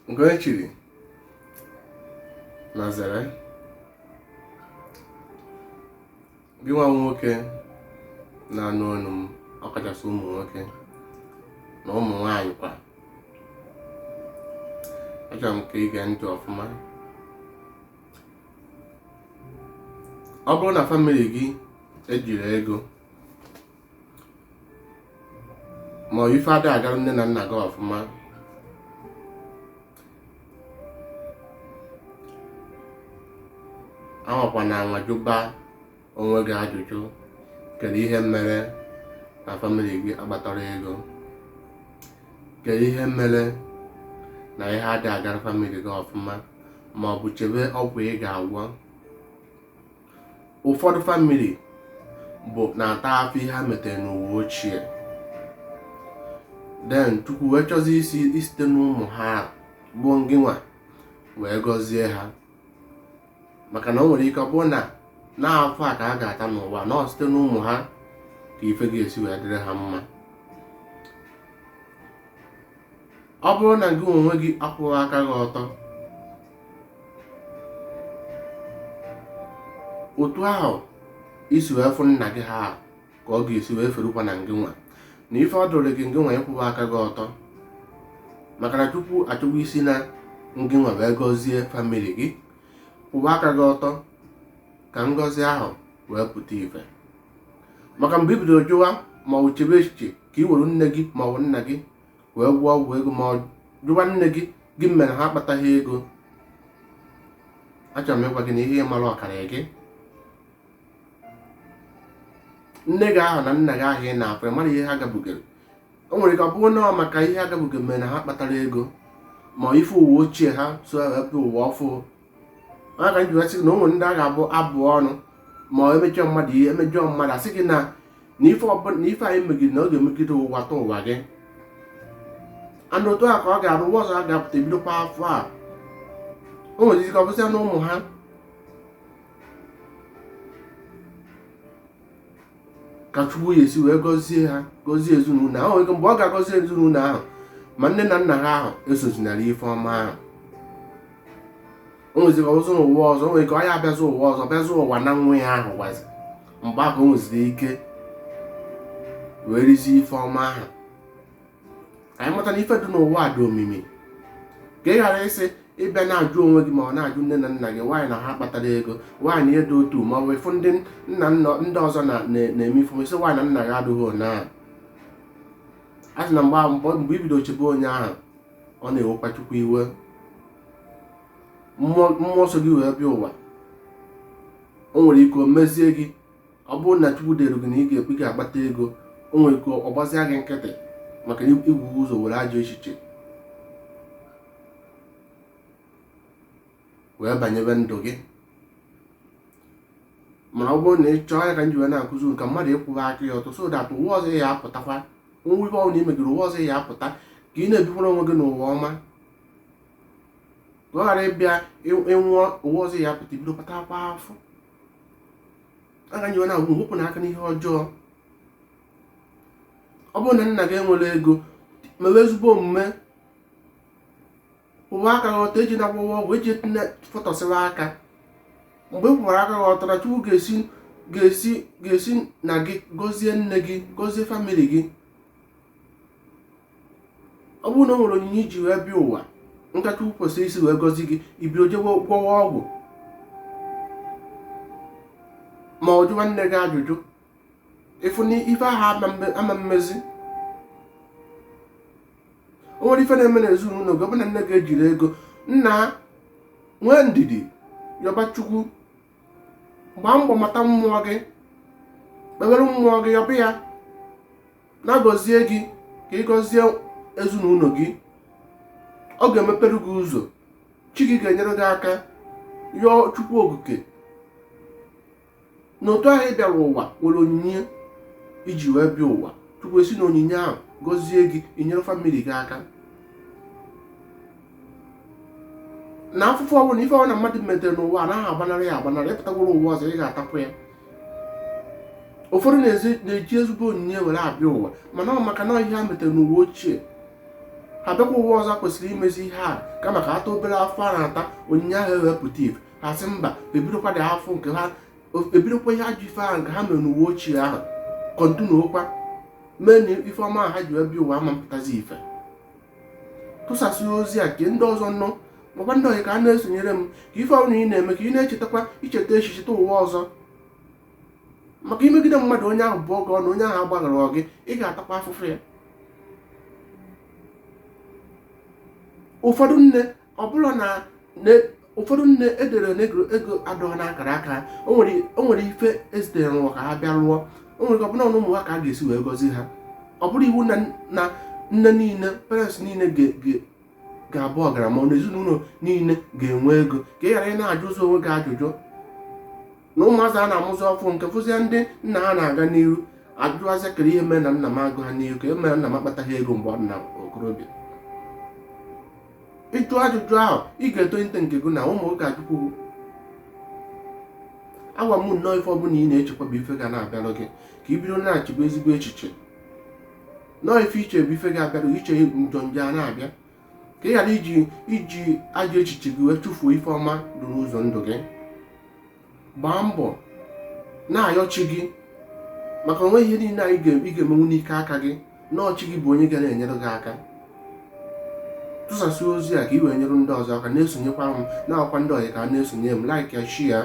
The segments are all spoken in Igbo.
nke onye chiri nya zere gị nwa nwoke na-anụ onu m ọkachasị ụmụ nwoke na ụmụ nwaanyị kwa achọrọ m ka i gee ntị ọfụma ọ bụrụ na famili gị ejiro ego ma ọ ife ada agara nne na nna gị ọfụma anwakwana anwa jụba onwe gị ajụjụ kedu ihe mere na famili gị akpatarọ ego kedu ihe mere na ihe adị agara famili gị ọfụma ma ọ bụ chebe ọgwụ ị ga-agwọ ụfọdụ famili bụ na-ata afụ ihe ha metere n'ụwa ochie then chukwu wee chọzi isi isite n'ụmụ ha bụ ngịnwa wee gọzie ha maka na o nwere ike ọ bụrụ na afụ a ka ha ga-ata n'ụwa na ọ site n'ụmụ ha ka ife ga-esi wee dịrị ha mma ọ bụrụ na gị onwe gị akwụghị aka gị ọtọ otu ahụ isi wee fụ nna gị ha ka ọ ga-esi wee ferukwa na ngị nwa na ife ọ dịrị gị ngị nwa ịkwụwa aka gị ọtọ maka na chukwu achọwa isi na ngị nwa wee gọzie famili gị kwụwa aka gị ọtọ ka ngọzi ahụ wee pụta ife maka mgbe i bidoro jụwa ma ọ chebe echiche ka i were nne gị ma ọ bụ nna gị wee gwọọ ọgwụ ego ma ọ jụwa nne gị gị mere ha akpataghị ego achọrọ m ịgwa gị na ihe mara ọkara gị nne gị ahụ na nna gị ahụ ị na-afụ mara ihe ha gabugere o nwere ike ọ bụrụ na ọ maka ihe ha gabuge mere na ha akpatarọ ego ma ife ụwa ochie ha so wee pụ ụwa ọfụ ọ nya ka m ji asị gị na o nwere ndị a ga-abụ abụ ọnụ ma emejọ mmadụ ihe emejọ mmadụ asị gị na ife i megide na ọ ga-emegide ụwa tụ ụwa gị and otu a ka ọ ga-abụ ụwa ọzọ a ga-apụta ebidokwa afụ a o nwere ike ọ bụsịa na ụmụ ha ka chukwu ya-esi wee gọzie ha gọzie ezinụlọ ahụ nwere ike mgbe ọ ga-agọzi ezinụlọ ahụ ma nne na nna ha ahụ esozi na-eri ife ọma ahụ o nweziri ọzọ n'ụwa ọzọ o nwere ike ọ ya-abịazị ụwa ọzọ bịazị ụwa na nwa ya ahụ gwazi mgbe ahụ o nweziri ike wee rizie ife ọma ahụ ka anyị mata na ife dị n'ụwa dị omimi ka ị ghara ịsị ịbịa na-ajụ onwe gị ma ọ na-ajụ nne na nna gị why na ha akpatarọ ego why unu ji dị otu ma ọ bụ ị fụ ndị nna nna ndị ọzọ na-eme ife ị sị why na nna gị adịghị onye ahụ a sị na mgbe mbọ mgbe i bido chebe onye ahụ ọ na-ewekwa chukwu iwe mmụọ so gị wee bịa ụwa o nwere ike o mezie gị ọ bụrụ na chukwu dere gị na ị ga-ekpe ga-akpata ego o nwere ike ọ gbazia gị nkịtị maka na i bu ụzọ were ajọ echiche wee banyebe ndụ gị mana ọ bụrụ na ị chọọ ya ka m ji wee na-akụzi unu ka mmadụ ịkwụba aka ya ọtọ so that ụwa ọzọ ya apụtakwa nwa ibe ọbụla imegiri ụwa ọzọ ya apụta ka ị na-ebikwara onwe gị n'ụwa ọma ka ọ ghara ịbịa ịnwụọ ụwa ọzọ ya apụta i bidokwa takwa afụfụ ya ka m ji wee na-agwa unu wepụnụ aka n'ihe ọjọọ ọ bụrụ na nna gị enwerọ ego mewe ezigbo omume kwụwa aka gị ọtọ ejena gwọwa ọgwụ eji fọtọsịwa aka mgbe ị kwụwara aka gị ọtọ na chukwu ga-esi ga-esi ga-esi na gị gọzie nne gị gọzie family gị ọ bụrụ na o nwere onyinye i ji wee bịa ụwa nke chukwu kwesịrị isi wee gọzie gị i bido jewe gwọwa ọgwụ ma ọ jụwa nne gị ajụjụ ị fụ na ife ahụ ama mmezi o nwere ife na-eme na ezinụlọ gị ọ bụ na nne gị ejirọ ego nna nwee ndidi yọba chukwu gbaa mbọ mata mmụọ gị kpewere mmụọ gị yọba ya na-agọzie gị ka ị gọzie ezinụlọ gị ọ ga-emepere gị ụzọ chi gị ga-enyere gị aka yọọ chukwu okike na otu ahụ ị bịara ụwa nwere onyinye i ji wee bịa ụwa chukwu esi na onyinye ahụ gọzie gị i nyere family gị aka na afụfụ ọbụla ife ọbụla mmadụ metere n'ụwa anaghị agbanarị ya agbanarị ịpụtagworo ụwa ọzọ ị ga-atapụ ya ụfọdụ na-eji ezigbo onyinye were abịa ụwa mana ọ maka na ihe ha metere n'ụwa ochie ha bịakwa ụwa ọzọ kwesịrị imezi ihe a kama ka ha ta obere afụfụ ha na-ata onyinye ahụ ewee pụta ife ha sị mba ebidokwa dị afọ nke ha ebidokwa ihe ajọ ife ahụ nke ha mere n'ụwa ochie ahụ continuekwa mee na ife ọma ha ji wee bịa ụwa ama mpụtazi ife tụsasị ozi a ka ndị ọzọ nụ makwa ndị ọyị ka ha na-esonyere m ka ife ọbụla ị na-eme ka ị na-echetakwa i cheta echi cheta ụwa ọzọ maka i megide mmadụ onye ahụ bụgodu na onye ahụ agbaghara gị ị ga-atakwa afụfụ ya ụfọdụ nne ọ bụrụ na ụfọdụ nne edere n'ego ego adọghị n'akara aka o nwere ife ezitere n'ụwa ka ha bịa rụọ o nwere ọ bụrụ na ọ n'ụmụ ha ka a ga-esi wee gọzie ha ọ bụrọ iwu na nne niile parents niile ga-abụ ọgaranya ma ọ bụ na ezinụlọ niile ga-enwe ego ka ị ghara ị na-ajụ ụzọ onwe gị ajụjụ na ụmụazị a na-amụzi ọfụụ nke fụzie ndị nna ha na-aga n'iru ajụazịa kere ihe mere na nna m agaghị n'ihu kee ihe mere na nna m akpataghị ego mgbe ọ dị na okorobịa ịjụ ajụjụ ahụ ị ga-etolite nke gị na ụmụ gị ga-ajụkwu agwa m unu na ife ọbụla ị na-echekwa bụ ife ga na-abịalụ gị ka ị bido na-echebe ezigbo echiche na ọ ife i che bụ ife ga-abịalụ i chee njọ njọ a na-abịa ka ị ghara iji ajọ echiche gị wee chụfuo ife ọma dị n'ụzọ ndụ gị gbaa mbọ na-ayọ chi gị maka onwe ihe niile ị ga-emenwu n'ike aka gị na ọ chi gị bụ onye ga na-enyere gị aka tụsasị ozi a ka ị wee nyere ndị ọzọ aka na-esonyekwa m na-agwakwa ndị ọyị ka ha na-esonye m like ya share ya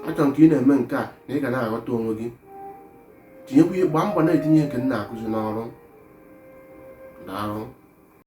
achọrọ m ka ị na-eme nke a na ị ga na-aghọta onwe gị tinyekwa ihe gbaa mbọ na-etinye nke m na-akụzi n'ọrụ daalụ